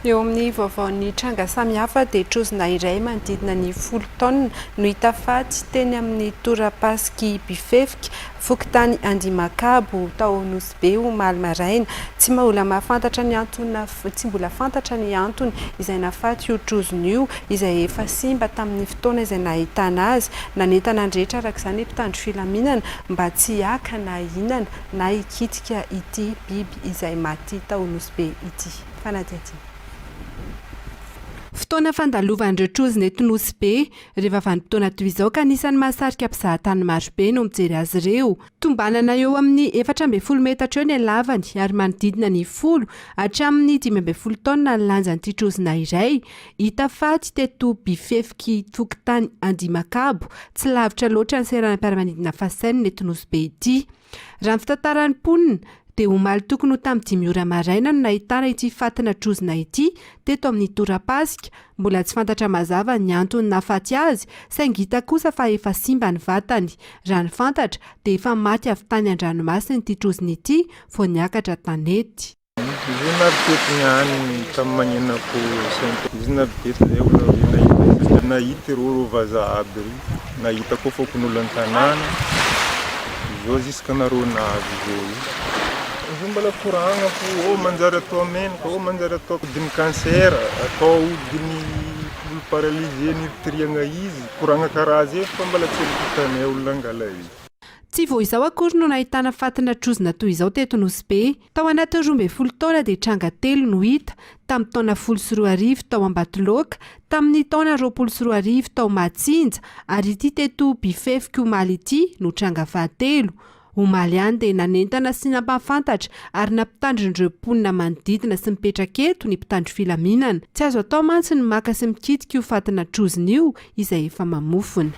Eo amin'ny vaovaon'ny tranga samihafa dia trozona iray manodidina ny folo taonina no hita faty teny amin'ny tora-pasik'i Bifefika, fokontany Andimakabo, tao Nosy Be omaly maraina. Tsy mbola mahafantatra ny antony tsy mbola fantatra ny antony izay nahafaty io trozona io izay efa simba tamin'ny fotoana izay nahitana azy. Nanentana ny rehetra araka izany ny mpitandro filaminana mba tsy haka na hihinana na hikitika ity biby. izay maty tao Nosy Be ity. Fanadihadiana. Fotoana fandalovan'ireo trozona eto Nosy Be, rehefa vanim-potoana toy izao ka anisan'ny mahasarika mpizahatany maro be no mijery azy ireo. Tombanana eo amin'ny efatra ambin'ny folo metatra eo ny halavany ary manodidina ny folo hatramin'ny dimy ambin'ny folo taonina ny lanjan'ity trozona iray hita faty teto Bifefiky fokontany Andimakabo, tsy lavitra loatra ny seranam-piaramanidina Fasenina eto Nosy Be ity. Raha ny fitantaran'ny mponina, dia omaly tokony ho tamin'ny dimy ora maraina no nahitana ity fatina trozona ity teto amin'ny tora-pasika. Mbola tsy fantatra mazava ny antony nahafaty azy, saingy hita kosa fa efa simba ny vatany. Raha ny fantatra, dia efa maty avy tany an-dranomasina ity trozona ity vao niakatra tanety. Izy io teto niany tamin'ny mañenako saint izy na teto zay olo avy eo nahita izy de nahita ireo ireo vazaha aby ireo nahita koa fokonolona an-tanàna izao ziska nareo nahazo izao io izy io mbola koragna fo ô manjary atao menaka ô manjary atao ampidin'ny cancer atao ahodin'ny olo paralysé niritirihagna izy koragna karaha zay fa mbola tsy efa hitanay olo nangala izy. Tsy vao izao akory no nahitana fatina trozona toy izao teto Nosy Be. Tao anatin'ny roa ambin'ny folo taona dia tranga telo no hita, tamin'ny taona folo sy roa arivo tao Ambatoloaka, tamin'ny taona roapolo sy roa arivo tao Mahatsinja ary ity teto Bifefika omaly ity no tranga fahatelo. Omaly ihany dia nanentana sy nampahafantatra ary nampitandrin'ireo mponina manodidina sy mipetraka eto ny mpitandro filaminana. Tsy azo atao mantsy ny maka sy mikitika io fatina trozona io izay efa mamofona.